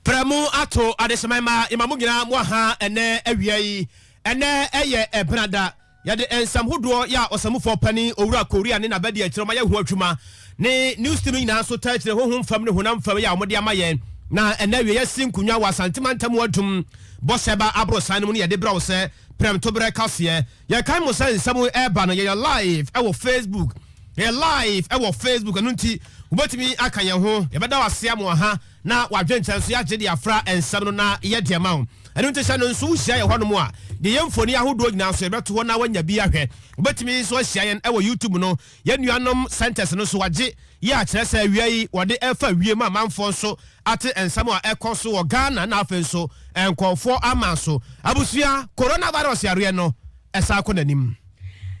prɛmo ato adesaman ma yɛma mo nyinaa mo aha ɛnɛ awia yi ɛnɛ ɛyɛ ɛbenada yɛde nsɛm hodoɔ yɛ a ɔsamufoɔ pani owura korea ne n'abadi akyerɛ ma yɛho adwuma ne New City no nyinaa nso taa kyerɛ honhom fam ne honam fam yɛ a wɔde ama yɛn. Na ɛnnɛ awia yɛasi nkonnwa wɔ Asante mantam mu adum bɔhyɛ ba aborosan no mu ne yɛde brɛ wo sɛ prɛmtoberɛ kaseɛ. Yɛkae mo sɛ nsɛm yi reba no yɛyɛ live ɛwɔ Facebook. Yɛyɛ live ɛwɔ Facebook ɛno nti wobɛtumi aka yɛn ho. Yɛbɛda wo ase ama w'aha na w'adwentɛ nso yɛagye de afra nsɛm no na yɛde ama wo. Ɛno nti hyɛ no nso wohyia yɛn hɔnom a yɛn mfoni ahodoɔ nyinaa nso yɛbɛto hɔ na woanya bi ahwɛ. Wobɛtumi nso ahyia yɛn ɛwɔ YouTube no. Yɛn nuanom scientists no nso agye yɛ akyerɛ sɛ awia yi wɔde refa wiem a amanfoɔ nso ate nsɛm a ɛkɔ so wɔ Ghana na afei nso nkorɔfoɔ ama nso abusua coronavirus yareɛ no ɛsan kɔ n'anim.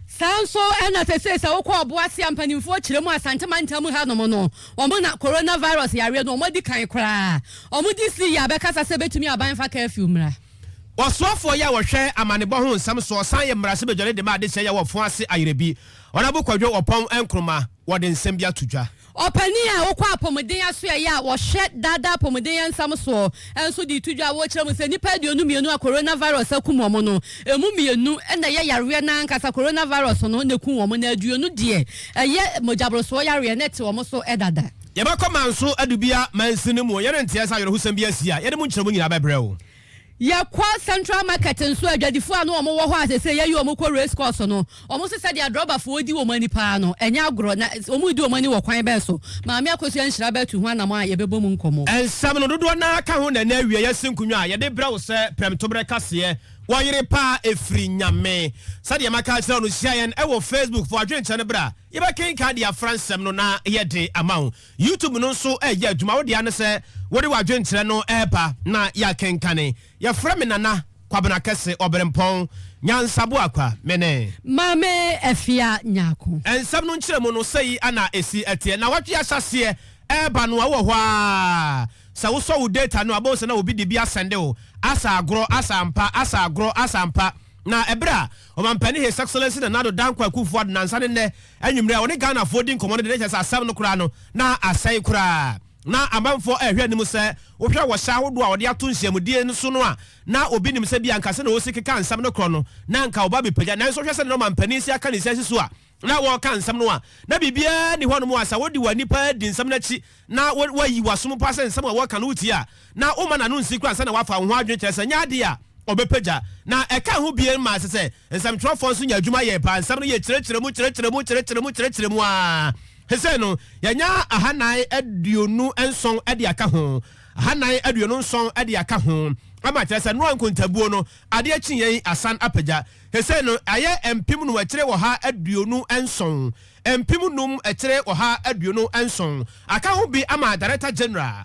Saa nso na sesei sɛ wokɔ ɔboase a mpaninfoɔ kyerɛ mu Asante mantam ha nom no wɔn na coronavirus yareɛ no wɔn adi kan koraa. Wɔn DC yi abɛkasa sɛ bɛtumi aban mfa curfew mmra. Ɔsoafoɔ yi a wɔhwɛ amanebɔ ho nsɛm soɔ san yɛ mmarahyɛbadwani de ma adehyeɛ yi a wɔfoa ase ayerɛ bi. Ɔnabo Kwadwo Ɔpɔn Nkrumah, wɔde nsɛm bi ato dwa. Ɔpanin a ɔkɔ apɔmuden asoɛeɛ a wɔhwɛ daadaa apɔmuden yɛnsɛm soɔ nso de reto dwa a wɔkyerɛ mu sɛ nnipa aduonu mmienu a coronavirus akum wɔn no, ɛmu mmienu na ɛyɛ yareɛ no ankasa, coronavirus no na ɛkum wɔn na aduonu deɛ ɛyɛ mogyaborosoɔ yareɛ na ɛte wɔn so dada. Yɛbɛkɔ Manso Adubea Mansin no mu o, yɛrenteɛ sɛ awerɛhosɛm bi asi a, yɛde mu nkyerɛmu nyinaa bɛbrɛ wo. Yɛkɔ Central Market nso a, adwadifoɔ a na wɔwɔ hɔ a seesei yɛayi wɔn kɔ Race Course no, wɔn nso sɛdeɛ drɔbafoɔ di wɔn ani paa no, ɛnyɛ agorɔ. Na wɔredi wɔn ani wɔ kwan bɛn so? Maame Akosua Nhyira bɛtu ho anamɔ a yɛbɛbɔ mu nkɔmmɔ. Nsɛm no dodoɔ no ara ka ho na ɛnnɛ awieeɛ asi nkonnwa a yɛde rebrɛ wo sɛ prɛmtoberɛ kaseɛ Wɔ yere pa ara ɛfiri Nyame. Sɛdeɛ maka akyerɛ wo no, hyia yɛn wɔ Facebook, fa w'adwenkyɛ no bra, yɛbɛkenkan de afra nsɛm no na yɛde ama wo. YouTube no nso reyɛ adwuma. Wo dea ne sɛ wode w'adwenkyerɛ no reba na yɛakenkane. Yɛfrɛ me Nana Kwabena Kɛse Ɔberempɔn Nyansaboakwa. Me ne. Maame Afia Nyarko. Nsɛm no nkyerɛmu no, sei na ɛsi teɛ. Nnawɔtwe a ahyɛaseɛ reba no a, wowɔ hɔ ara. Sɛ wosɔ wo data no a, wobɛhu sɛ na obi de bi asɛnde wo. Asɛ agorɔ, asɛ ampa, asɛ agorɔ, asɛ ampa. Na ɛberɛ a. Ɔmampanin His Excellency Nana Addo Dankwa Akuffo Addo nansa ne nnɛ anwummere a ɔne Ghanafoɔ redi nkɔmmɔ no de no kyerɛ sɛ asɛm no koraa no na asɛe koraa. Na amanfoɔ rehwɛ anim sɛ wohwɛ wɔ hyɛ ahodoɔ a wɔde ato nhyiamudie no so no a, na obi nim sɛ ebia anka sɛnea wɔsi keka nsɛm no korɔ no na anka wɔbɛbɛpagya. Nanso wohwɛ sɛnea na ɔmampanin si aka ne nsiasi so a, na wɔreka nsɛm no a, na biribiara nni hɔnom a sɛ wode w'ani pa ara di nsɛm no akyi na woayi w'asom pa sɛ nsɛm a wɔreka no wotie a, na womma n'ano nsi koraa ansa na wafa wo ho adwene, kyerɛ sɛ, ɛnyɛ ade a ɔbɛpagya. Na ɛka ho bio ma ɛsɛ sɛ nsɛmtwerɛfoɔ nso nya adwuma yɛ paa. Nsɛm no yɛ kyerɛkyerɛ mu, kyerɛkyerɛ mu, kyerɛkyerɛ mu, kyerɛkyerɛ mu ara. Seesei no, yɛanya ahanan aduonu nson de aka ho, ahanan aduonu nson de aka ho, ama kyerɛ sɛ Noa nkontabuo no, adeɛ kyeeɛ yi asan apagya. Sesei no, ayɛ mpem num akyire ɔha aduonu nson, mpem num akyire ɔha aduonu nson, aka ho bi ama Director General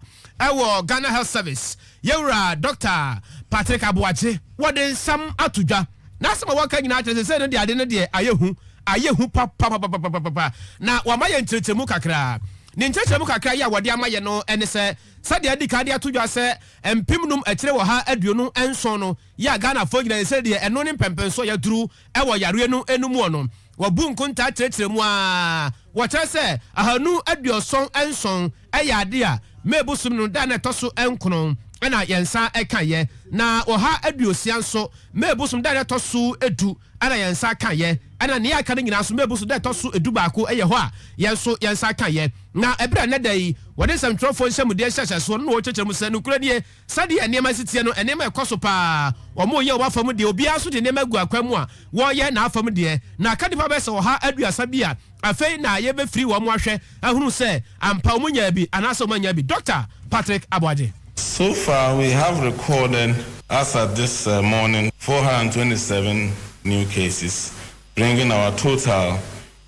wɔ Ghana Health Service, Yɛwura Dɔkta Patrick Aboagye. Wɔde nsɛm ato dwa. N'asɛm a wɔka nyinaa kyerɛ sɛ sesei no deɛ ade no deɛ ayɛ hu, ayɛ hu papapapapapa, na wɔama yɛn nkyerɛkyerɛmu kakra. Ne nkyerɛkyerɛmu kakra yi a wɔde ama yɛn no ne sɛ, sɛdeɛ adi kan de ato dwa sɛ mpem num akyire ɔha aduonu nson no, yɛ a Ghanafoɔ nyina yɛsɛ deɛ ɛno ne mpɛmpɛnsoɔ yɛduru wɔ yareɛ no no muɔ no, wɔbu nkontaa kyerɛkyerɛ mu ara, wɔkyerɛ sɛ ahanu aduɔsɔn nson yɛ adeɛ a May bosome no da a na ɛtɔ so nkoron na yɛnsa kaeɛ, na ɔha aduosia nso May bosome da a na ɛtɔ so du na yɛnsa kaeɛ, ɛna nea aka no nyina nso May bosome da a ɛtɔ so du baako yɛ hɔ a yɛn nso yɛnsa kaeɛ. Na ɛberɛ a nnɛ da yi wɔde nsɛmtwerɛfoɔ nhyɛmudeɛ nhyɛhyɛsoɔ no na wɔrekyerɛkyerɛ mu sɛ nokorɛ nie, Sɛdeɛ nneɛma si teɛ no, nneɛma rekɔ so pa ara. Wɔreyɛ wɔn afa mu deɛ, obiara nso de nneɛma agu akwan mu a wɔreyɛ n'afa mu deɛ. Na aka nnipa bɛyɛ sɛ ɔha aduasa bi a afei na yɛbɛfiri wɔn ahwɛ ahunu sɛ ampa wɔnyaa bi anaasɛ wɔannya bi. Dɔkta Patrick Aboagye. So far we have recorded as at this morning four hundred and twenty seven new cases bringing our total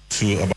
to about.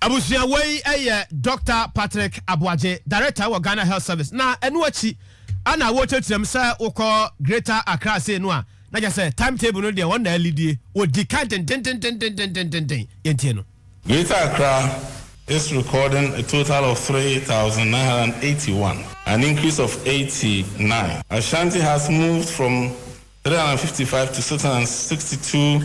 Abusua wei yɛ Dɔkta Patrick Aboagye, Director wɔ Ghana Health Service, na ɛno akyi ana wɔrekyerɛkyerɛm sɛ wokɔ Greater Accra sei no a, na kyerɛ sɛ time table no deɛ wɔn na alidie, wɔdi kan dendendendendendenden, yɛntie no. Greater Accra is recording a total of three thousand nine hundred and eighty one, an increase of eighty nine. Ashanti has moved from three hundred and fifty five to six hundred and sixty two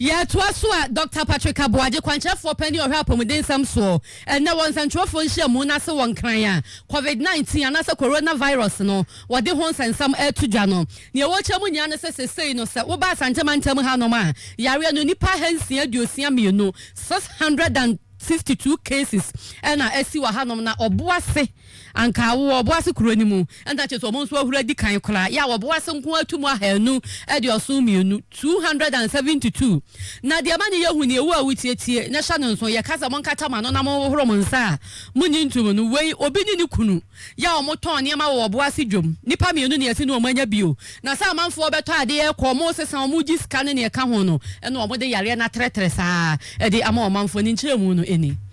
Yɛtoa so a, Dɔkta Patrick Aboagye, Kwankyerɛfoɔ Panin a Ɔhwɛ Apɔmudensɛm Soɔ, Ɛnnɛ wɔ Nsɛntwerɛfoɔ Nhyiamu no ase wɔ Nkran a Covid 19 anaasɛ Corona Virus no wɔde ho nsɛnsɛm reto dwa no. Neɛ wɔkyerɛ mu nyinaa ne sɛ sesei no sɛ woba Asante mantam hanom a yareɛ no nnipa ahansia aduosia mmienu, 662 cases, na asi wɔ hanom na ɔbo ase. Anka awowɔ Ɔboase kuro no mu. Ɛnna kyerɛ sɛ wɔn nso ahuro adi kan koraa. Yɛ a wɔ Ɔboase nko ara tu mu ahanu aduɔson mmienu, two hundred and seventy two. Na deɛ ɛma no yɛ hu nie, wo a wotietie na hyɛ no nso, yɛka sɛ monkata mo ano na monhohoro mo nsa a monnye ntom no, wei, obi ne ne kunu, yɛ a wɔtɔn nneɛma wɔ Ɔboase dwam, nnipa mmienu na yɛse ne wɔn anya bio. Na sɛ amanfoɔ bɛtɔ adeɛ rekɔ, wɔresesa, wɔregye sika ne nea ɛka ho no, ɛnna wɔde yareɛ no atrɛtrɛ saa ara de ama ɔmanfoɔ no. Nkyerɛmu no ni.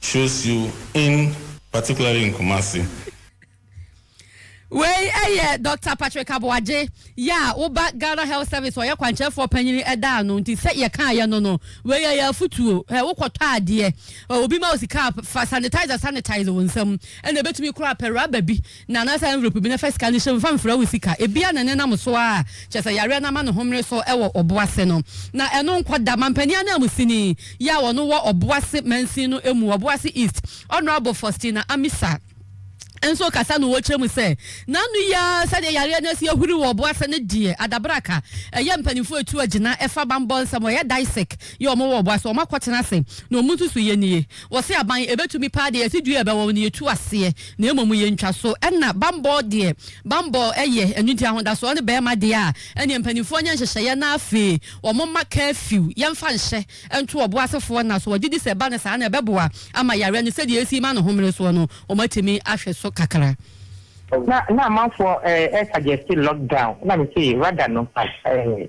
Chosiu in particularly in Kumasi. Wei yɛ Doctor Patrick Aboagye yɛ a wo ba Ghana Health Service ɔyɛ kwankyerɛfoɔ panyini ɛda ano nti sɛ yɛ kaa yɛ no no wei yɛ yɛ afutuo hɛ wo kɔ tɔ adeɛ obi ma wo sika a fa sanitizer sanitize wo nsam ɛna ɛbɛtumi koraa pɛ rubber bi Na anaasɛ envelope bi na fa sika no hyɛ mu fa mfra wo sika, ebia na ɛnenam so ara, kyerɛ sɛ yareɛ no ama ne ho mmere so wɔ ɔbo ase no. Na ɛno nkɔ da, mampanin ananmusini yi a ɔno wɔ ɔbo ase mansin no mu, Ɔbo Ase East, Honourable Faustina Amisa nso kasa no ɔkyerɛ mu sɛ, N'ano yi ara sɛdeɛ yareɛ no asi ahuri wɔ ɔbo ase no deɛ, adabraka ɛyɛ mpaninfoɔ a ɛtu agyina fa bammɔ nsɛm, wɔyɛ DISEC yi a wɔwɔ ɔbo ase, wɔakɔtena ase na wɔn nsusuiɛ nie, wɔse aban ɛbɛtumi paa deɛ yɛse dua a ɛbɛwɔ no yɛtu aseɛ. Na mmom yɛ ntwaso. Ɛna bammɔ deɛ, bammɔ yɛ anigyeɛ ahodasoɔ ne barima deɛ a, ɛneɛ mpaninfoɔ nyɛ nhyehyɛeɛ na afei wɔn mma curfew, yɛmfa nhyɛ, nto wɔn asefoɔ nna so. Wɔgye di sɛ ɛba no saa no ɛbɛboa ama yareɛ no sɛdeɛ ɛresi rema no homene soɔ no, wɔn atumi ahwɛ so kakra. Na na amanfoɔ ɛ suggeste lock down, ɛna me se rather no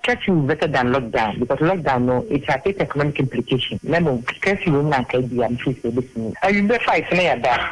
curfew better than lock down because lock down no it has its economic implication, na mmom curfew no na anka ɛbia me feel sɛ ɛbɛtumi, awieɛ five na yɛada.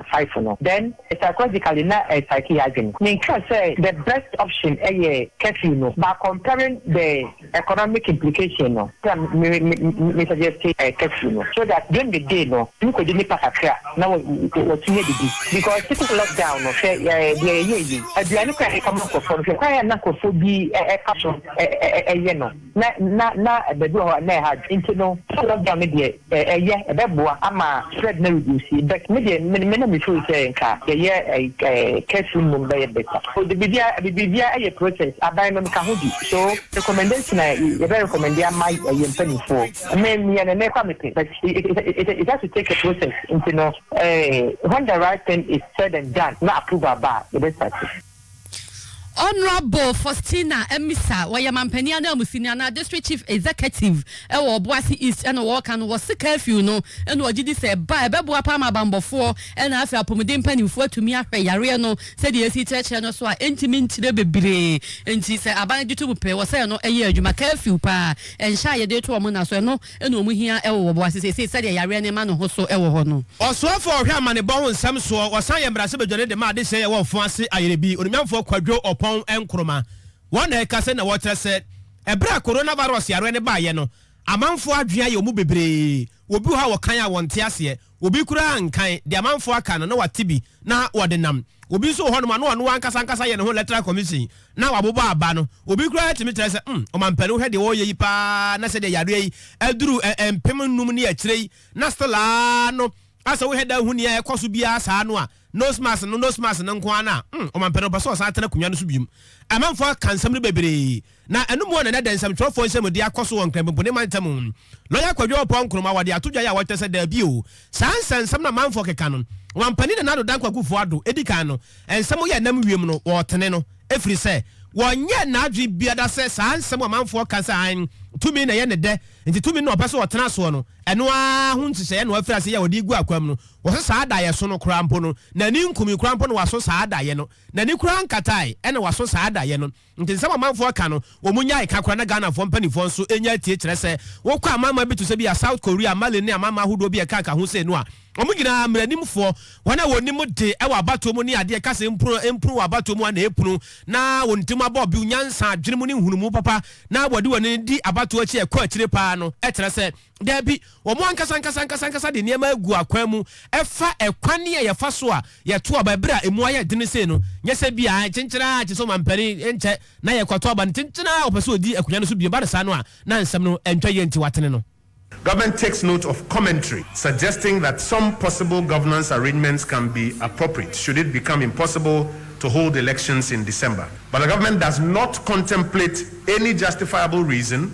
five no then psychologically na ɛ psyche yɛ adwen. Me nka sɛ the best option ɛyɛ curfew no but comparing the economic implication no nti na me me me suggest ɛ curfew no so that during the day no wotumi kɔdi nnipa kakra na wa watumi adidi because city lock down no hwɛ ɛ deɛ yɛyɛɛ yi aduane koraa a yɛkɔma nkorɔfoɔ no hwɛ kwan a na nkorɔfoɔ bi ɛ ɛfa so ɛ ɛ ɛyɛ no. Na, na, na baabi wɔ hɔ a na ɛha adwo. Nti no, sɛ lockdown no deɛ, ɛ, ɛyɛ, ɛbɛboa ama spread no areduusi. But me deɛ, me, me na me feel sɛ nka yɛyɛ ɛ, ɛ, curfew no mmom bɛyɛ better. O, de, biribiara, biribiara yɛ process. Aban no, meka ho bi. So, recommendation a y, yɛbɛ recommende ama ɛ, yɛn mpanimfoɔ, me, meyɛ no nnɛ kwa mepɛ. But it, it, it, it, it has to take a process. Nti no, ɛ, when the right thing is said and done na approval ba a, yɛbɛ starte. Honourable Faustina Amisa, ɔyɛ manpanin ananmusini anaa District Chief Executive wɔ Ɔboase East ɛna ɔɔka no, ɔse curfew no ɛna ɔgye di sɛ ɛba a ɛbɛboa paa ma abanbɔfoɔ ɛna afei apomuden mpaninfoɔ atumi ahwɛ yareɛ no sɛdeɛ yɛsi kyerɛkyerɛ no so a ɛntumi nkyerɛ bebree nti sɛ aban gye to mu pɛ wɔ sɛ ɛno ɛyɛ adwuma. Curfew paa ɛnhyɛ a yɛde to wɔn nna so ɛno na wɔn hia wɔ wɔn ase seesei sɛdeɛ yareɛ no rema ne ho so wɔ hɔ no. Ɔsoɛfoɔ a ɔhwɛ amanebɔ ho nsɛm soɔ, ɔsan yɛ mmarahyɛbadwani de ma adehyeɛ yɛwɔ Mfon ase Ayerɛbi, Onimnyamfoɔ Kwadwo Ɔpɔn Nkrumah. Wɔn na ɛka sɛnea wɔkyerɛ sɛ, ɛberɛ a coronavirus yareɛ no baeɛ no, amanfoɔ adwene ayɛ wɔn bebree. Wɔbi wɔ hɔ a wɔkan a wɔnte aseɛ. Obi koraa nnkan deɛ amanfoɔ aka no na wate bi na ɔde nam. Obi nso wɔ hɔnom a na ɔno ankasa ankasa yɛ ne ho electoral commission na wabobɔ aba no. Obi koraa tumi kyerɛ sɛ, mm, ɔmampanin wohwɛ deɛ wɔreyɛ yi paa na sɛdeɛ yareɛ yi aduru mpem nnum ne akyire yi na still ara no asɛ wohwɛ dan hu nea ɛrekɔso biara saa no a, Nose mask no nose mask no nko ara no a, hmm, ɔmampanin no ɔpɛ sɛ ɔsan atena akonnwa no so bio. Amanfoɔ aka nsɛm no bebree, na ɛno mua na ɛnnɛ da nsɛmtwerɛfoɔ nhyiamudie akɔ so wɔ Nkrampinpuni mantam mu. Lɔya Kwadwo Oppong Nkrumah wɔde ato dwa yi a wɔkyerɛ sɛ daabi o, saa nsɛnsɛm no a amanfoɔ keka no, Ɔmampanin Nana Addo Dankwa Akufo Addo, ɛdi kan no, nsɛm yɛ nam wiem no, wɔtene no, ɛfiri sɛ, wɔnyɛ n'adwene biada sɛ saa nsɛm a amanfoɔ ka sɛ aane, tumi na ɛyɛ ne dɛ, nti tumi no na ɔpɛ sɛ ɔtena soɔ no, ɛno ara ho nhyehyɛeɛ na wafiri aseɛ yɛ a ɔde regu akwam no. Wɔse saa adayɛ so no koraa mpo no n'ani nkumii koraa mpo na waso saa adayɛ no. N'ani koraa nkatae ɛna waso saa adayɛ no. Nti nsɛm a amanfoɔ ka no wɔn nyae ka koraa na Ghanafoɔ mpaninfoɔ nso nya atie kyerɛ sɛ wokɔ amanaman bi to sɛ bia South Korea, Mali ne amanaman ahodoɔ bi a ɛka ka ho sei no a wɔn nyinaa mmaranimfoɔ, wɔn a wɔnim de wɔ abatoɔ mu ne adeɛ ka sɛ mpunu mpunu wɔ abatoɔ mu a na ɛpunu na wɔn tirim abɔ bio nyansa, adwene mu ne nhunumu papa na wɔde wɔn ani di abatoɔ akyi a ɛkɔ akyire paa no kyerɛ sɛ Dabi, wɔn ankasa ankasa ankasa ankasa de nneɛma agu akwan mu fa ɛkwan a yɛfa so a yɛto aba bere a emu ayɛ den sei no. Nyɛ sɛ bi a kyenkyen ara te sɛ ɔmampanin nkyɛ na yɛkɔto aba no kyenkyen ara ɔpɛ sɛ odi akonnwa no so bio. Ɛba no saa no a, na nsɛm no ntwa yie nti wɔatene no. Government takes note of commentary suggesting that some possible governance arrangements can be appropriate should it become impossible to hold elections in December, but the government does not contemplate any justifiable reason,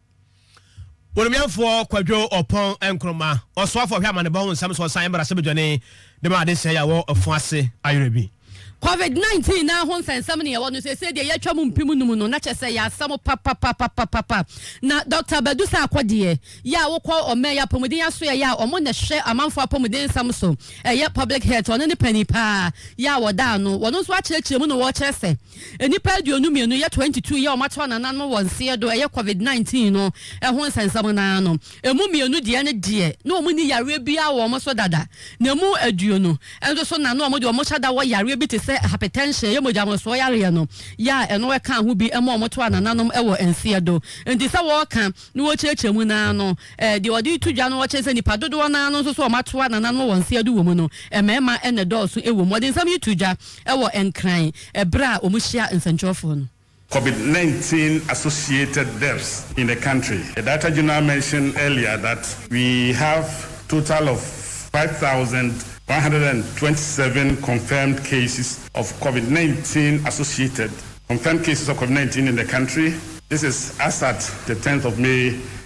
Onimiamfoɔ Kwadwo Ɔpɔn Nkrumah, Ɔsoafoɔ Hwɛ Amanebɔ Ho Nsɛm So Ɔsan Mmra Sɛ Badwani De Ma Adesɛe A Ɛwɔ Afã Ase Ayera Bi? Covid 19 no ara ho nsɛnsɛm na yɛwɔ no seesei deɛ yɛatwa mu mpem num no na kyɛ sɛ ɛyɛ asɛm papapapapapa na Dɔkta Badu sɛ akɔdeɛ yɛ a wokɔ ɔman yi apɔmuden asoɛeɛ yɛ a ɔmo na ɛhwɛ amanfoɔ apɔmuden nsɛm so ɛyɛ public health ɔno ne panin paa yɛ a wɔda ano wɔno nso akyerɛkyerɛ mu na wɔkyerɛ sɛ Nnipa aduonu mmienu yɛ twenty two yɛ wɔato anana no wɔ nseɛ do ɛyɛ covid nineteen no ɛho nsɛnsɛm no ano. Ɛmu mmienu deɛ no deɛ na wɔn nni yareɛ biara wɔ wɔn so dada na ɛmu aduonu nso so na na wɔn deɛ wɔn hyɛ da wɔ yareɛ bi te sɛ hypertension ɛyɛ mogya nworosoɔ yareɛ no yɛ a ɛno ɛka ho bi ɛma wɔn to anananom ɛwɔ nseɛ do nti sɛ wɔreka na wɔrekyerɛkyerɛ mu no ara no Eh, deɛ wɔde reto dwa no wɔ kyɛn sɛ nnipa dodoɔ no ara no nso so wɔatoa nananom wɔ wɔn nseɛdo wɔ mu no, mmarima na ɛdɔɔso wɔ mu. Wɔde nsɛm yi to dwa wɔ Nkran berɛ a wɔhyia nsɛnkyerɛwfoɔ no. Covid nineteen associated deaths in the country, the data Jonah mentioned earlier that we have total of five thousand one hundred and twenty seven confirmed cases of Covid nineteen associated confirmed cases of Covid nineteen in the country, this is as at the tenth of May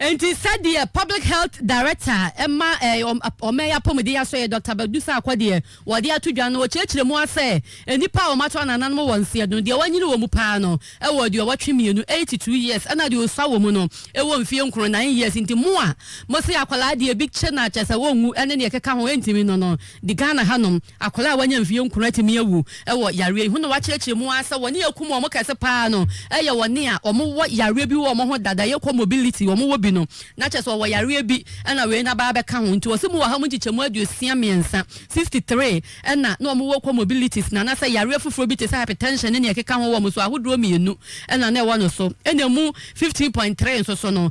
Enti sɛdeɛ Public Health Director ma ɔman yi apɔmuden asɔeɛ Doctor Badu Sarkor deɛ wɔde ato dwa no, ɔkyerɛkyerɛ mu ara sɛ, nnipa a wɔato anananom wɔ nseɛ no, deɛ wɔanyini wɔ mu pa ara no wɔ aduɔwɔtwe mmienu, eighty two years, ɛna deɛ ɔsua wɔ mu no wɔ mfeɛ nkron, nine years. Nti mo a mose akwadaa deɛ ebi kye no a kyerɛ sɛ ɔnwu ne deɛ ɛkeka ho ntumi no no, di Ghana hanom. Akwadaa a wanya mfeɛ nkron atumi awu wɔ yareɛ yi ho na wɔakyerɛkyerɛ mu ara sɛ wɔn a ɛkum wɔn kɛse pa ara no yɛ wɔn a wɔwɔ yareɛ bi wɔ wɔn ho dada, ɛyɛ comobility, wɔwɔ bi no, na kyerɛ sɛ wɔwɔ yareɛ bi na wei no aba abɛka ho. Nti wɔse mu wɔ ha mu nkyekyɛmu aduosia mmiɛnsa, sixty three, na na wɔwɔ comobilities na anasɛ yareɛ foforɔ bi te sɛ hypertension ne nea ɛkeka ho wɔ wɔn so, ahodoɔ mmienu na na ɛwɔ no so, ɛna ɛmu fifteen point three nso so no,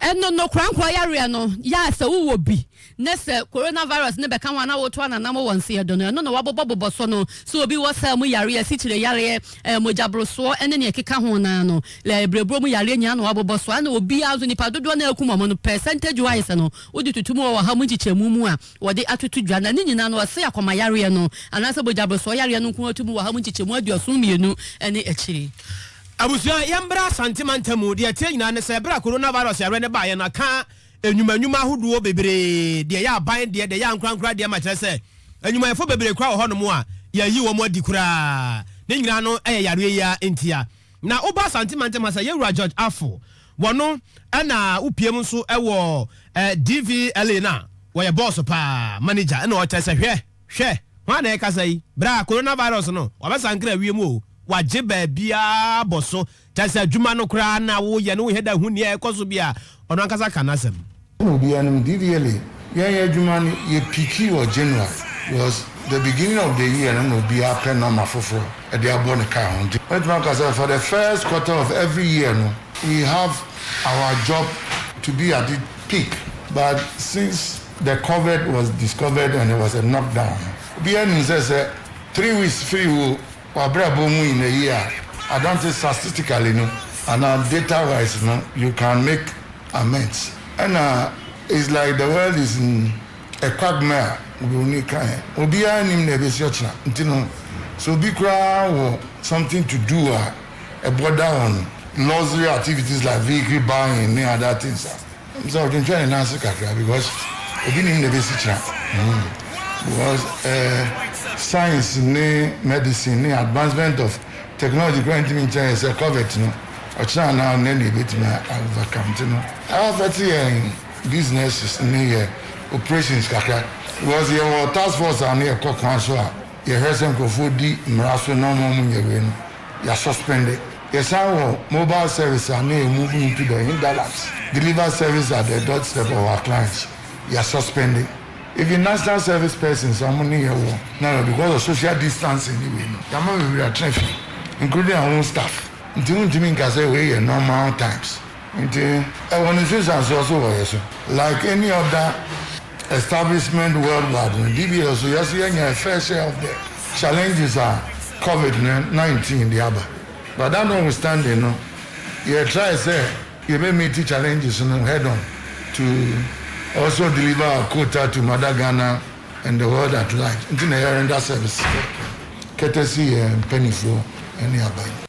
Ɛno no, korankorɔ yareɛ no yɛ a sɛ wowɔ bi na sɛ coronavirus no bɛka ho a na woto ananam wɔ nse do no, ɛno na wɔabobɔbobɔ so no. Sɛ obi wɔ saa mu yareɛ, asikyire yareɛ, mogyaborosoɔ ne deɛ ɛkeka ho no ara no, berɛberɛboɔ mu yareɛ nyinaa na wɔabobɔ so. Ɛna obiara nso, nnipa dodoɔ no a akum wɔn no, percentage wise no, wode toto mu wɔ ɔha mu nkyekyɛmu mu a, wɔde atoto dwa. Na ne nyinaa no, wɔse akoma yareɛ no anaasɛ mogyaborosoɔ yareɛ no nko ara to mu wɔ ɔha mu nkyekyɛmu aduɔson mmienu ne akyire. Abusua, yɛmbra Asante mantam mu, deɛ ɛteɛ nyinaa ne sɛ, berɛ a coronavirus yareɛ no baeɛ no, aka nnwuma nnwuma ahodoɔ bebree, deɛ ɛyɛ aban deɛ, deɛ ɛyɛ ankorankora deɛ ma kyerɛ sɛ, nnwumayɛfoɔ bebree koraa wɔ hɔ nom a, yɛayi wɔn adi koraa. Ne nyinaa no yɛ yareɛ yi ara ntia. Na woba Asante mantam ha sɛ, Yɛwura George Afful, wɔno na wopie mu nso wɔ DVLA no a, wɔyɛ bɔɔso paa, manager na ɔkyerɛ sɛ, hwɛ, Hwɛ! Hwan na ɛrekasa yi? Bra! Coronavirus no, wabɛsankra wiem o, wagye baabiara abɔ so, kyerɛ sɛ adwuma no koraa na woyɛ no wohwɛ da hu nea ɛrekɔ so bi a, ɔno ankasa ka n'asɛm. Sɛnea obiara nim, DVLA, yɛn yɛn adwuma no, yɛ piikii wɔ January, because the beginning of the year no na obiara pɛ nɔma foforɔ de abɔ ne kaa ho, nti mɛtumi aka sɛ for the first quarter of every year no, we have our job to be at it peak, but since. the covered was discovered and it was a knock down no, obiara nim sɛ sɛ three weeks firi wo w'abrabɔ mu in a year a, I don't think statistically no anaa data wise no you can make amends. Ɛna it's like the world is in a quagmire a oburoni kaeɛ, obiara nim nea ɛbɛsi ɔkyena nti no sɛ obi koraa wɔ something to do a ɛbɔda on luxury activities like vehicle buying ne other things a, Ntsi ɔtwentwɛn ne nan ase kakra because obi nim na ebesi kyena hmm because eh science ne medicine ne advancement of technology koraa ntumi nkyɛn yɛ sɛ covert no ɔkyena anaa ɔnnɛ na ebetumi a overcome ntsi no a affect yɛn businesses ne yɛ operations kakra because yɛwɔ task force a ano yɛkɔ kwan so a yɛhwɛ sɛ nkorɔfoɔ di mmara so na ɔmo a ɔmo nyɛ wei no ya suspende. Yɛsan wɔ mobile service a na yɛ move into the hinterlands, deliver service at their doorstep of our clients, ya suspende. Even national service persons a ɔmo ne yɛ wɔ na no because of social distancing ne wei no, yama bebree atena fie including our own staff nti wontumi nka sɛ wei yɛ normal times nti ɛwɔ ne nsunsuansoɔ so wɔ yɛ so like any other. Establishment worldwide no, DBL so yɛ so yɛanya a fair share of the challenges a Covid no nineteen de aba. But that notwithstanding no, yɛ try sɛ yɛbɛ meet challenges no head on to also deliver our quota to mother Ghana and the world at large nti na yɛ render service courtesy yɛn mpaninfoɔ ne aban.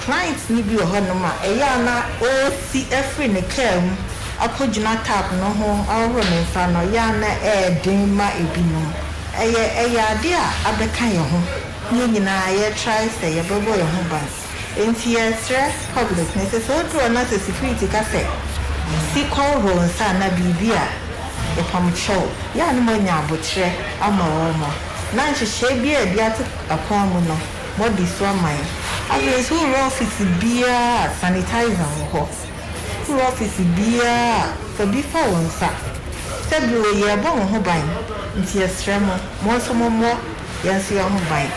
Client no bi wɔ hɔnom a, ɛyɛ a na ɔresi afiri ne kaa mu akɔgyina tap no ho ahohoro ne nsa no, ɛyɛ a na ɛyɛ den ma binom. Ɛyɛ ɛyɛ adeɛ a abɛka yɛn ho. Yɛn nyinaa yɛretrae sɛ yɛbɛbɔ yɛn ho ban. Enti yɛresrɛ public no, ɛsɛ sɛ ɔduru hɔ na sɛ security ka sɛ, si kɔ hohoro wo nsa anaa biribi a, yɛpamkyɛ wo. Ɛyɛ a na moanya aboterɛ ama wɔn. Na nhyehyɛeɛ biara a yɛde ato akwan mu no, body so ama yɛn. Afei nso wo werɛ office biara a sanitizer wɔ hɔ. Wo werɛ office biara a fa bi fa wo nsa. Sɛ bi wɔ yɛɛbɔ mo ho ban nti yɛsrɛ mo mo nso mo mmɔ yɛn nso yɛn ho ban.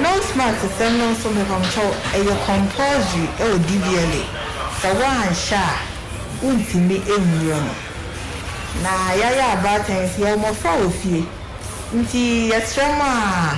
Nose mask sɛm no nso mepamokyɛw ɛyɛ compulsory ɛwɔ DVLA. Sɛ woanhyɛ a wontumi nwura mu. Na yɛayɛ abaatan nti yɛwɔ mmɔfra wɔ fie nti yɛsrɛ mo a.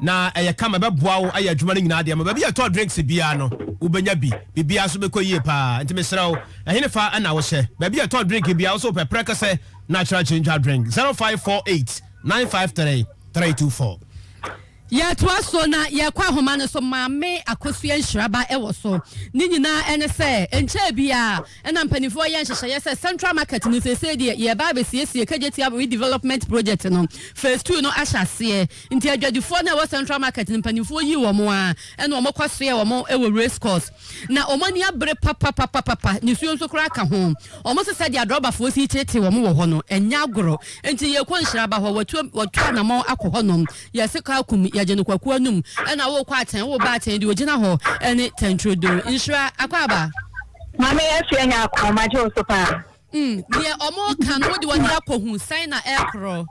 Na ɛyɛ kama, ɛbɛboa wo ayɛ adwuma no nyinaa de ama. Baabi a yɛtɔ drinks biara no, wobɛnya bi. Biribiara nso bɛkɔ yie paa. Enti mesrɛ wo, ɛhenefa na wohyɛ? Baabi a yɛtɔ drink biara, wo sɛ wopɛ prɛkɛsɛ natural ginger drink, 0548 953 324. Yɛtoa so na yɛkɔ ahoma no so, Maame Akosua Nhyiraba wɔ so. Ne nyinaa ne sɛ, ɛnkyɛɛ biara na mpanimfoɔ reyɛ nhyehyɛeɛ sɛ Central Market no seesei deɛ yɛreba abɛsiesie Kagye Tiawa Redevelopment Project no, Phase Two no ahyɛ aseɛ. Nti adwadifoɔ no a ɛwɔ Central Market no mpanimfoɔ yii wɔn ara ɛna wɔn kɔ soɛɛ wɔn wɔ Race Course. Na wɔn ani abere papapapapapa, nisuo nso koraa ka ho. Wɔn se sɛdeɛ adrɔbafoɔ si reteetee wɔn wɔ hɔ no, ɛnyɛ agorɔ. Nti yɛrekɔ Nhyiraba hɔ, wɔatu wɔatu anamɔn akɔ hɔnom. Yɛse kɔ Akum, yɛgye no Kwaku anom. Ɛna worekɔ Atɛn, woreba Atɛn deɛ ɔgyina hɔ ne Tɛntredo. Nhyira, akwaaba. Maame yɛafi anya akɔ, magye wo so paa. Deɛ wɔreka no, wode wɔn de akɔ hu sɛn na ɛrekorɔ?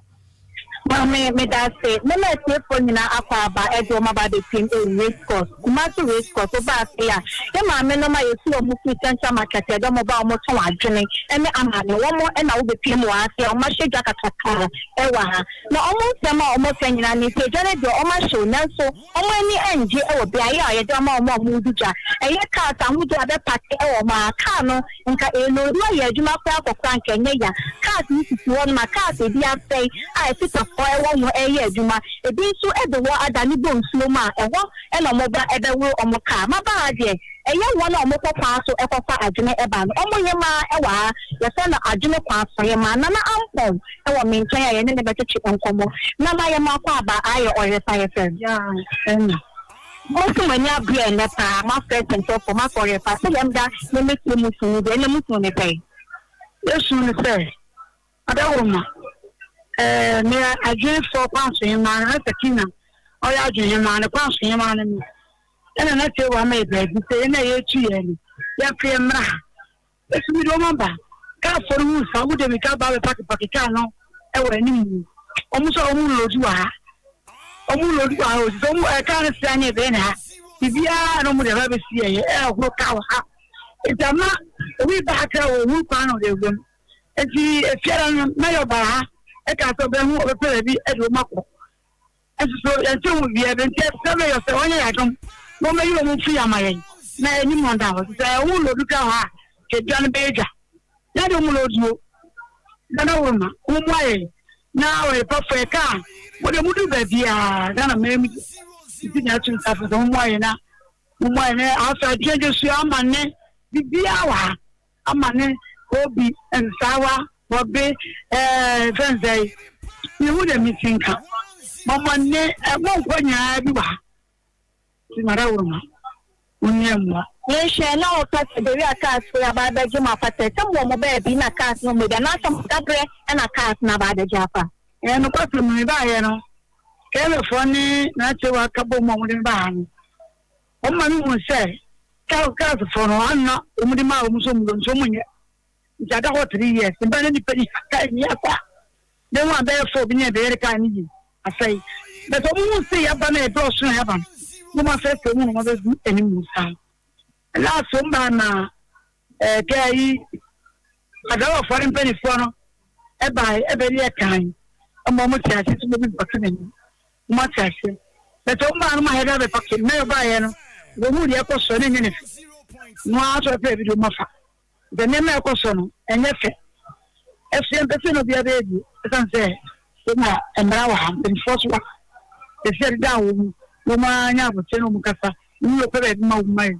Maame, Medase. Me na atiefoɔ nyinaa akɔ aba ɛde wɔn aba abɛtiem ɛwɔ Race Course, Kumasi Race Course. Woba afei a, yɛ maame nom a yɛtu wɔn firi Central Market yɛde wɔn ba a wɔn tɔn adwene ɛne amane. Wɔn na wobɛpiem wɔ ha afei a wɔn ahyɛ dwa kakraka ɛwɔ ha. Na wɔn nsɛm a wɔn ka nyinaa ne sɛ dwa no deɛ wɔn ahyew nanso, wɔn ani ngye wɔ beaɛ a yɛde ama wɔn a wɔredi dwa. Ɛyɛ cars ahodoɔ a bɛpake wɔ hɔ aa. Car no nka eenodu ayɛ adwuma koraa kɔkora a nka ɛnyɛ ya. Cars no sisi hɔ nom a cars a ebi asɛe a ɛtetafoɔ wɔ ho reyɛ adwuma. Ebi nso de hɔ adane bɔ nsuo mu a ɛhɔ na wɔn ba bɛworo wɔn car. Maba aa deɛ ɛyɛ wɔn a wɔkɔ kwan so kɔfa adwene ba no. Wɔn hemaa wɔ aa yɛfrɛ no adwene kwan so hemaa, Nana Ampong. wɔ me nkyɛn a yɛne no bɛtwetwe nkɔmmɔ, na mayɛ m'akwaaba ayɛ ɔyere pa yɛ fɛ. Ɛnna. Mose mo ani abere ɛnnɛ paa, moafrɛ atɛmtɔfoɔ, moakɔ ɔyere pa, sɛdeɛ meda ne me tiri mu su no deɛ, ɛnna mosu ne sɛn? Yɛsu ne sɛ, Adawoma, ɛɛ, meyɛ adwene fɔ kwanso hemaa no, na Sakina ɔyɛ adwene hemaa no, kwanso hemaa no no. Ɛnna na Tewa ama yɛ baabi sɛ yɛn a yɛretu yɛn no, yɛmfeɛ mmra ha. Yesu mede wɔn aba. Kaafo no hu saa, wɔn de mirika ba bɛpake pake kaa no wɔ anim. Wɔn nso a wɔn loodi wɔ ha. Wɔn loodi wɔ ha o, sɛ wɔn ɛɛ kaa no si anyɛ bɛn na ha. Biribiara na wɔn de ɛbɛ bɛsi ɛyɛ ɛhoro kaa wɔ ha. Nti ama obi ba ha kra wɔ ohuru kwan na ɔde awura mu. Nti efiara no mɛyɛ ɔbaa ha ɛkaa sɛ ɔbɛn ho ɔbɛpɛ baabi ɛde wɔn akɔ. Nsoso yɛn ti ho bia bi nti ɛsɛ bɛ yɔ sɛ wɔnyɛ yɛ adom na wɔn bɛyi wɔn firi ama yɛn na anim wɔn da hɔ sɛ wɔn lɔ dukura hɔ a kedua no bɛyɛ dwa na de wɔn lɔ duo nana wɔn ma wɔn mu ayɛ na wɔyɛ pɔfɔ yɛ kaa wɔn de wɔn du baabi a gana mɛn mu nti na ɛto nsa fɛ sɛ wɔn mu ayɛ na wɔn mu ayɛ na afɛ adeɛ de sua ama ne bibi awa. ama ne obi nsaawa wɔ be ɛɛ fɛn nsɛe mihu dɛ mesi nka mɔmɔ ne ɛmo nkɔ nyinaa bi wɔ ha ti mara wɔ ma onua mua. Menhwɛ na ɔka sɛ beri a cars firi aba abɛgye mo afa sɛ sɛ mowɔ mo baabi na cars no mmɔ bi anaasɛ mo dabrɛ na cars no aba abɛgye afa. Ɛyɛ nokwasɛm mebaeɛ no kɛlɛfoɔ ne n'akyiriwa ka bom a wɔde me baa ha no Wɔn maame huu sɛ Castlefoɔ no ano na wɔn de maa wɔn so muro nti wɔn nyɛ. Nti ada hɔ three years. Ne ba ne nipa ni ha kaa ni asa. Ne ho abɛyɛ four bi ne ɛbɛyɛ ne kaa ne yi asɛe. But wɔn hu sɛ yaba na ɛdɔ ɔso na yaba no. Wɔn afɛ sɛ wɔn wɔn bɛgu anim mu saa. Last wɔn baa na Eh, kɛ ayi Agarɔfoɔ no mpaninfoɔ no bae ɛbɛ deɛ kan ɛma ɔmo te ase sɛ obi bɛpake n'ani. Ɔmo ate ase. Bɛtɛ ɔmo baa no ma hɛda bɛpake. Mɛyɔ baeɛ no, ɔbɛhuu deɛ ɛkɔ soɔ na ɛnyɛ ne fɛ. Ɔmo ara nso ɛpɛ video ma fa. Sɛ nneɛma ɛkɔ soɔ no, ɛnyɛ fɛ. Ɛso yɛn pɛ sɛ na obiara bɛyɛ bio. Ɛsan sɛ sɛnea mmara wɔ ha, mpaninfoɔ so wɔ ha. Ɛsɛ ɛdeda a wɔn mu, wɔn ara nyɛ abotire na wɔn kasa. Wɔn yɛ ɔpɛ baabi ma wɔn ma yɛ.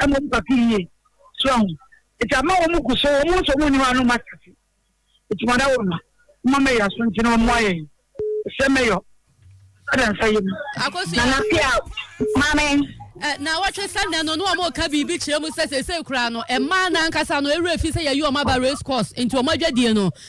a mmom kwati yie. So ahu? Nti ama wɔn gu so, wɔn nso wɔn nni hɔ a na wɔn ate ase. Nti mada wɔn ma, mma mɛyɛ aso nti na wɔn ayɛ yi. Sɛ mɛyɔ, ada nsa yɛ mu. Akosia. Nana pia, maame. Ɛ eh, na wɔtwe sɛ nɛ no na wɔn ka biribi kyerɛ mu sɛ sese kura no, ɛmaa n'ankasa no ewura fi sɛ yɛyi wɔn aba race course nti wɔn adwadie no.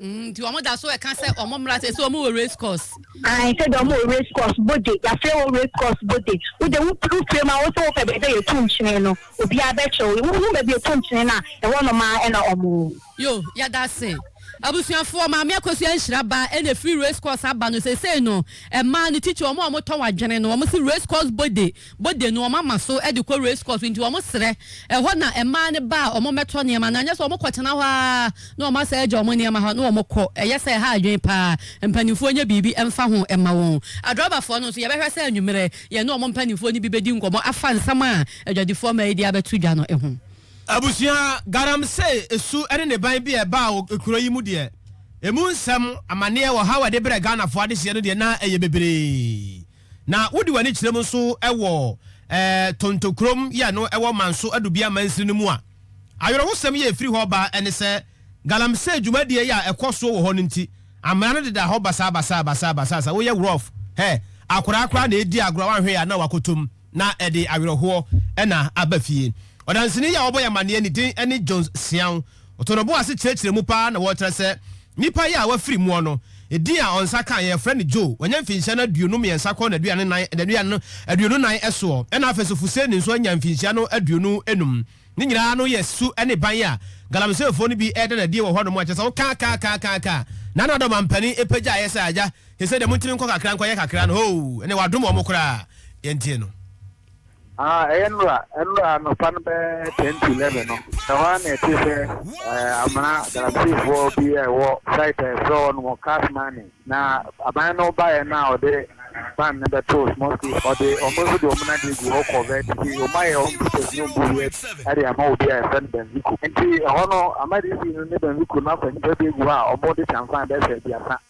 Mm, nti wɔn da so ɛka sɛ wɔn mmra sɛ sɛ wɔn wɔ race course. Ayi sɛ deɛ wɔn wɔ race course bode yafrɛ wɔn race course bode wode wo wo fie ma wo sɛ wopɛ baabi a yɛtu nkyene no obiara bɛkyerɛ wo wohu baabi yɛtu nkyene no a ɛhɔ nom a ɛna wɔn. Yo, yɛda ase. Abusuafoɔ, Maame Akosua Nhyira Ba ɛna ɛfiri race course aba no, seesei no, mmaa no titiri wɔn a wɔtɔn adwene no, wɔn se race course bode. bɔ danu, wɔama so de kɔ race course nti wɔsrɛ. Ɛhɔ na mmaa no ba a wɔmmɛtɔ nneɛma anaa nyɛ sɛ wɔkɔtena hɔ ara na wɔasan agya wɔn nneɛma hɔ na wɔkɔ. Ɛyɛ sɛ ɛha adwene pa ara. Mpanimfoɔ nyɛ biribi mfa ho mma wɔn. Adrɔbafoɔ no nso yɛbɛhwɛ sɛ anwummerɛ yɛne wɔn mpanimfoɔ no bi bɛdi nkɔmmɔ afa nsɛm a adwadifoɔ mmaa yi de abɛto dwa no ho. Abusua, Galamsey esu ne ne ban bi a ɛbaa wɔ kuro yi mu deɛ, ɛmu nsɛm, amaneɛ, ɔhaw a ɛde brɛɛ Ghanafoɔ adehyeɛ no deɛ na ɛyɛ bebree. Na wode w'ani kyerɛ mu nso wɔ Tonto kurom yi a ɛno wɔ Manso Adubia mansini no mu a, awerɛhosɛm yi a ɛfiri hɔ ba ne sɛ, galamsey dwumadie yi a ɛkɔ soɔ wɔ hɔ no nti, amena no deda hɔ basaa basaa basaa basaa. Sɛ woyɛ rough, hɛ, akoraa koraa na ɛredi agorɔ a woanhwɛ yɛ a na wakɔtɔ mu, na ɛde awerɛhoɔ na aba fie. Ɔdanseni yi a ɔbɔ yɛn amaneɛ no din ne Jones Siaw. Ɔtɔnɔbo ase kyerɛkyerɛ mu paa na wɔkyerɛ sɛ nipa yi a wafiri muɔ no, edin a ɔnsa ka yɛ frɛ no Joe, wanya mfinhyia no aduonu mmiɛnsa kɔ n'aduanan aduonu nan ɛsoɔ, ɛna afei nso Fuseni nso anya mfinhyia no aduonu enum. Ne nyinaa no yɛ su ɛne ban a Galamiseefoɔ no bi ɛɛda no adie wɔ hɔ nom a kyerɛ sɛ wo kaa kaa kaa kaa kaa na na dɔm ampanin ɛpagyaeɛ sɛ agya, sesei deɛ montumi nkɔ kakra nkɔ yɛ kakra no hoo, ɛnneɛ wadom wɔn koraa, yɛntie no. Ah, ɛyɛ nnora, nnora anɔpa no bɛyɛ ten to eleven no, ɛhɔ ara na ɛte sɛ ɛɛ amena galamseyfoɔ bi a ɛwɔ site a ɛfrɛ hɔ nom Cash Money, na aban no baeɛ no a ɔde ban no bɛtoo small space, ɔde wɔn nso de wɔn adeɛ gu hɔ kɔvɛt, nti wɔn ayɛ wɔn business ne wɔn busiɛs ɛde ama obi a yɛfrɛ no Benzico, nti ɛhɔ no Ahmad Iddi no ne Benzico no afa nnipa bi agu hɔ a wɔn de kyanfan bɛsɛ aduasa.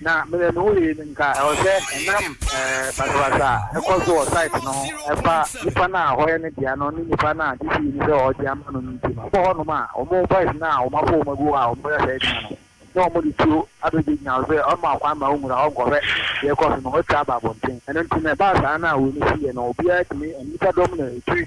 Na me de me ho yɛ nim ka ɛwɔ sɛ ɛnam basabasa a ɛkɔ so wɔ site no ho ɛfa nipa no a hɔyɛ ne dea no ne nipa no a DC nim sɛ ɔregye ama no no nti mabɔ hɔnom a wɔn boys no a wɔafɔ wɔn agu hɔ a wɔreyɛ saa adwuma no ne wɔn de tuo abɛgyinagyina hɔ sɛ ɔmma kwan ma wɔnwura hɔ nkɔhwɛ deɛ ɛkɔ so no wɔatwa aba abɔnten ɛno nti na ɛbaa saa na wei no siiɛ no obiara tumi nnipa dɔm na ɛtwi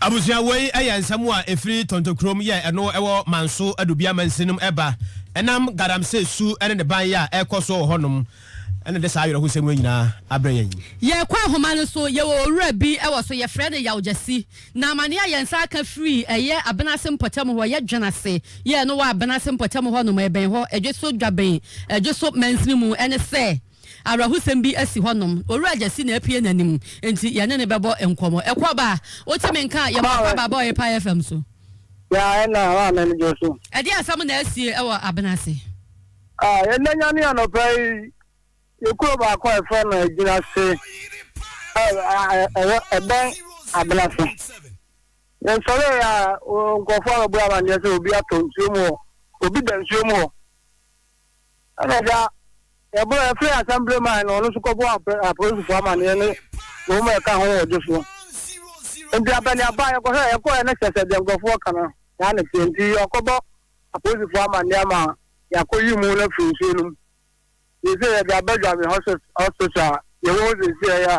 Abusua, Wei yɛ nsɛm a ɛfiri Tonto kurom yɛ ɛno wɔ Manso Adubia Mansin nom ɛba ɛnam Galamsey su ne ne ban yɛ a ɛrekɔ soɔ wɔ hɔ nom na ɛde saa awerɛhosɛm wei nyinaa abrɛ yɛn yi. Yɛrekɔ ahoma no so, yɛwɔ owura bi wɔ so, yɛfrɛ no Yaw Gyasi. Na amaneɛ a yɛn nsa aka firi ɛyɛ Abenase mpɔtam hɔ, yɛ Dwenase yɛ ɛno wɔ Abenase mpɔtam hɔ nom, ɛbɛn hɔ, Dweso Dwabɛn, Dweso Mansin mu, ɛne sɛ, Awerɛhosɛm bi asi hɔnom. Owura Gyasi na apue n'anim, enti yɛne no bɛbɔ nkɔmmɔ. Ɛkɔ ba a, wote me nka a, yɛmmɔ aba ba bɔɔyɛ Pie FM so. Ya ɛna hɔ a n'ani gye so. Ɛdeɛn asɛm na asie wɔ abena ase? Ah, yɛnanya ne anɔpa yi, yɛ kuro baako a yɛfrɛ no Agyina se, ɛwɔ ɛbɛn abena se. Yɛsɔre yɛ a, nkurɔfoɔ abɛbɔ amanneɛ sɛ obi atɔ nsuo mu hɔ, obi da nsuo mu hɔ. Ɛna da yɛbɔ yɛfrɛ asɛmbre man no ɔno nso kɔbɔ apolisifo amanneɛ ne wɔn a ɛka ho wɔgye so nti abaniaba yɛkɔhwɛ yɛkɔɛ no kyɛ sɛ deɛ nkurɔfoɔ ka no saa ne teɛ nti yɛkɔbɔ apolisifo amanneɛ ma yɛakɔyi mu no afiri nsuo no mu yɛsɛ yɛde aba dwame hospital yɛwɔ hɔ sɛsi ɛyɛ a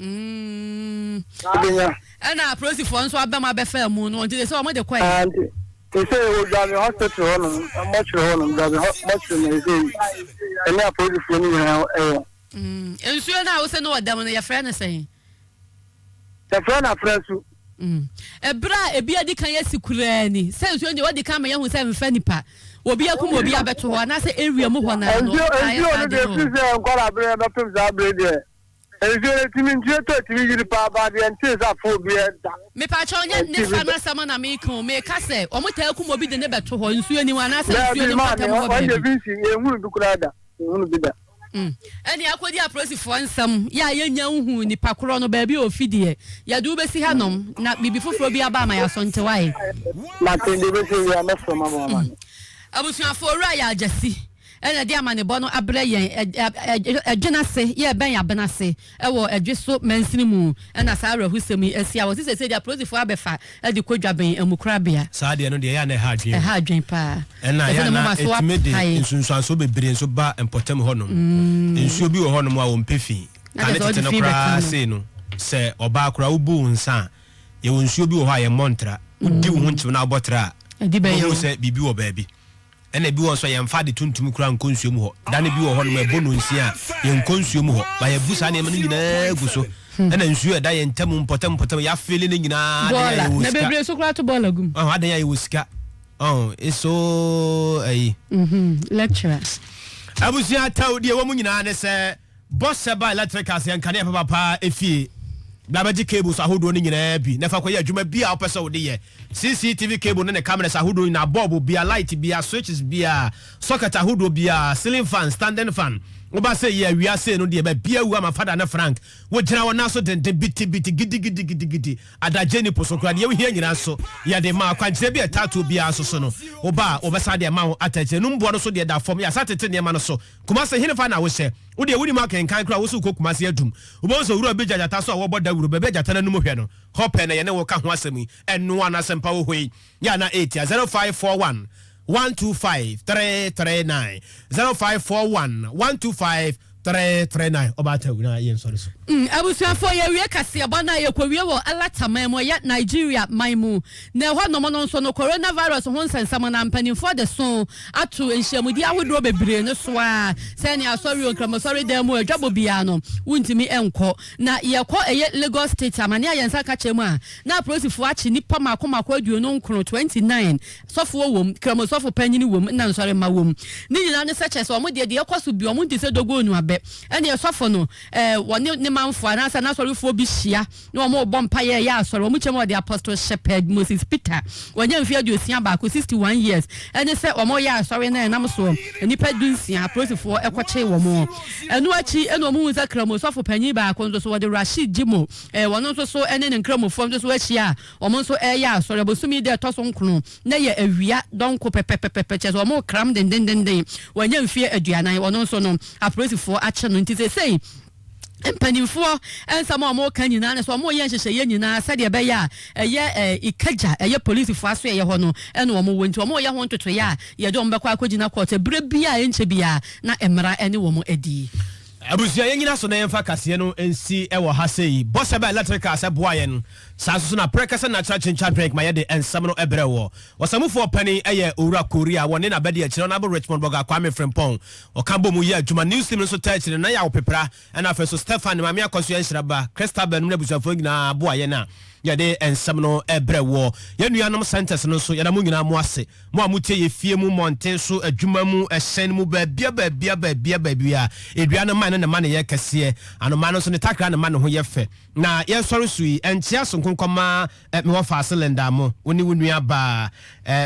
Mm. Ebenya. Ɛna apolisifoɔ nso abɛm abɛfaa mu no nti de sɛ wɔn de kɔɛ. Ah, nti te sɛ wɔ dwabin hospital hɔ nom mɔkyerɛ hɔ nom dwabin mɔkyerɛ na ɛsɛ yi ɛne apolisifoɔ no nyinaa ɛwɔ. Mm. Nsuo no a wosɛ no wɔ dɛm no yɛfrɛ no sɛn? Yɛfrɛ no afrɛ su. Mm. Ɛberɛ a ebi adi kan yɛsi kuraa ni sɛ nsuo deɛ wɔdi kan ma yɛhu sɛ mfa nipa obi akum obi abɛto hɔ anaasɛ area mu hɔ naa no. Nsuo no deɛ firi sɛ nkɔla berɛ bɛpem saa berɛ deɛ. Nsuo no tumi nsuo tɔ tumi yiri paa baa deɛ ntee sɛ afoɔ bi da. Mepakyɛw nyɛ Nifa no asɛm na meka o, meka sɛ wɔn taa kum obi de no bɛto hɔ, nsuo ni hɔ anaasɛ nsuo no mpata mu hɔ baabi. Daabi maame, ɔn yɛ vinci, yɛn hunu bi koraa da, yɛn hunu bi da. Ɛne akɔdi apolisifoɔ nsɛm yɛ a yɛnnya nhuu nipa korɔ no baabi a ɔfi deɛ, yɛde wo bɛsi ha nom na biribi foforɔ biara ba a ma yɛasɔnte wae. Mate, deɛ ɛbɛsi awiɛ a mɛfrɛ mo ama mo amane. Abusuafoɔ, Owura Yaa Gyasi. na ɛde amanebɔ no abrɛ yɛn adwene ase, yɛrebɛn abena ase wɔ adwe so mansini mu na saa awerɛhosɛm yi asi. Awɔ se seesei deɛ apolisifoɔ abɛfa de kɔ dwaben amukorabea. Saa adeɛ no deɛ ɛyɛ a na ɛha adwene o. Ɛha adwene paa. Ɛna ɛyɛ a na ɛtumi de nsunsuansoɔ bebree nso ba mpɔtam hɔnom. Nsuo bi wɔ hɔnom a wɔmpɛ fi. Kane tete no koraa sei no, sɛ ɔbaa koraa wobu wo nsa a, yɛwɔ nsuo bi wɔ hɔ a yɛmmɔ ntra. Wodi wo ho nkyew na wobɔ tra a, wobɛhunu sɛ biribi wɔ baabi. Ɛna ebi wɔ hɔ nso a yɛmfa ade tuntum koraa nkɔ nsuo mu hɔ. Da no bi wɔ hɔnom a ɛbɔ nnɔnsia a, yɛnkɔ nsuo mu hɔ. Ma yɛabu saa nneɛma no nyinaa agu so. Ɛna nsuo a ɛda yɛn ntam mpɔtam mpɔtam yi, yɛafeele no nyinaa. Adɛn a Bɔɔla. yɛwɔ Na sika? bebree nso koraa to bɔɔla gu mu. Ɔho, adɛn a yɛwɔ sika? Ɔho, it's so ayi. Lecturer. Abusua atawdi a ɛwɔ mu nyinaa ne sɛ. Bɔ hyɛ ba ɛlɛtrik ase yɛ nkanea papa paa efie na bɛgye cables ahodoɔ no nyinaa bi na fa kɔyɛ adwuma bi a wopɛ sɛ wode yɛ. CCTV cable no ne cameras ahodoɔ nyinaa, bulb biara, light biara, switches biara, socket ahodoɔ biara, ceiling fan, standing fan. Woba sei yi awia sei no deɛ baabiara awu ama Fada ne Frank. Wogyina wɔn nan so denden biti biti gidi gidi gidi gidi. Adagyeɛ nni po so koraa. Deɛ wohia nyinaa nso yɛde ma. Akwankyerɛ bi a ɛtaa tuo biara nso so no, woba a wɔbɛsan de ama wo atɛkyerɛ. Num boɔ no so deɛ da fam. Yɛasan atete nneɛma no so. Kumase henefa na wohyɛ? Wo deɛ wonim akenkan koraa wo so wokɔ Kumase adum wobɛhu sɛ owura bi gya gyata so a wɔbɔ dawuro baabi a gyata no anum hwɛ no hɔ pɛ na yɛne wo ka ho asɛm yi ɛno a na asɛmpa wɔ hɔ yi yɛ a na ɛretia 0541 125 339 0541 125 339 ɔbaa ta wura yɛ nsɔre so. Mm, abusuafoɔ yɛwie kaseɛbɔ no a yɛkɔwie wɔ Alataman mu ɛyɛ Nigeria man mu Na ɛhɔnom no nso no, coronavirus ho nsɛnsɛm no, mpanimfoɔ de so ato nhyiamudie ahodoɔ bebree no so ara sɛ ne asɔre o, Nkramoasɔre dan mu o, adwabɔ biara no, wontumi nkɔ. Na yɛkɔ ɛyɛ Lagos State amane a yɛn nsa ka kyerɛ mu a, na apolisifoɔ akye nnipa mmaako mmaako aduonu nkron, 29, sɔfoɔ wɔ mu, Kramosɔfo panyini wɔ mu, ɛna nsɔre mma wɔ mu. Ne nyinaa ne sɛ kyerɛ sɛ wɔn deɛ, deɛ ɛkɔ so biara, wɔn nte sɛ dogoo no abɛ. Ɛnneɛ sɔfo no, ɛɛ, wɔne ne manfoɔ anaasɛ n'asɔrefoɔ bi hyia. ne wɔn rebɔ mpaeɛ reyɛ asɔre. Wɔn kyɛm a wɔde Apostle Shepherd Moses Peter, wanya mfeɛ aduosia baako, 61 years, ɛne sɛ wɔreyɛ asɔre no ɛnam soɔ. Nnipa dunsia, apolisifoɔ kɔkyee wɔn. Ɛno akyi na wɔhuu sɛ Kramu sɔfo panin baako nso so, wɔde Rashid Jimoh, ɛɛ, wɔn nso so ne ne Nkramufoɔ nso so ahyia a wɔn nso reyɛ asɔre. Abosome yi da a ɛtɔ so nkono na ɛyɛ awia dɔnko pɛpɛpɛpɛpɛ, kyerɛ sɛ wɔrekram dendendenden. Wanya mfeɛ aduanan. Ɔno nso no, apolisifoɔ akye no. Nti seesei. mpanyimfoɔ nsɛm a wɔka nyinaa ne sɛ wɔyɛ nhyehyɛeɛ nyinaa sɛdeɛ ɛbɛyɛ a ɛyɛ Ikeja, ɛyɛ polisifoɔ asoɛeɛ hɔ no na wɔwɔ nti wɔyɛ ho ntotoeɛ a yɛde wɔn bɛkɔ akɔgyina court sɛ berɛ bi a ɛnkyɛ biara na mmara ne wɔn adi. Abusua yɛnyina so na yɛmfa kaseɛ no nsi wɔ ha sei. Bɔsɛ ba electrical sɛ boa yɛn. Saa nso so na prɛkɛ sɛ natural ginger drink ma yɛde nsɛm no brɛ woɔ. Ɔsamufoɔ panin yɛ Owura Korea, wɔne n'abadiakyire Honourable Richmond Boga Kwame Frimpong. Wɔka bɔ mu yɛ adwuma. News team no nso taa kyerɛ no. Ná yɛawo Pepra na afei nso Stefan, ne maame Akɔsoɛ Nhyira ba, Christabel nom ne abusuafoɔ no nyinaa boa yɛn a yɛde nsɛm no brɛ woɔ. Yɛn nuanom Centres no nso, yɛda mo nyinaa mo ase. Mo a motie yɛn fie mu, mmɔnten so, adwuma mu, ɛhyɛn mu, baabiara baabiara baabiara baabiara. Edua no mman no ne mma no yɛ kɛseɛ. Anomaa no nso ne takra ne mma no ho yɛ fɛ. Na yɛresɔre so yi, ɛnkyɛ aso nko nkɔma me wɔfaase Linda mo, wo ne wo nuabaa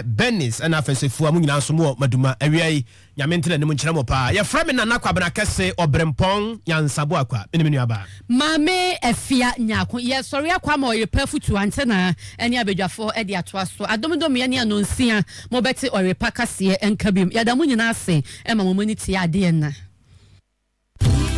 Bernice na afei nso Afua, mo nyinaa nso mowɔ Maduma awia yi. Nyame ntena anim nkyerɛ mo paa. Yɛfrɛ me Nana Kwabena Kɛse Ɔberempɔn Nyansabo Akwaa. Mene me nuabaa. Maame Afia Nyarko. Yɛsɔre akɔ ama Ɔyerepɛ afutuo, Antenna ne abadwafo de atoa so. Adomdomeɛ ne Anonsia, mobɛte Ɔyerepa kaseɛ nka biom. Yɛda mo nyinaa ase ma mo mu ani tea adeɛ nna.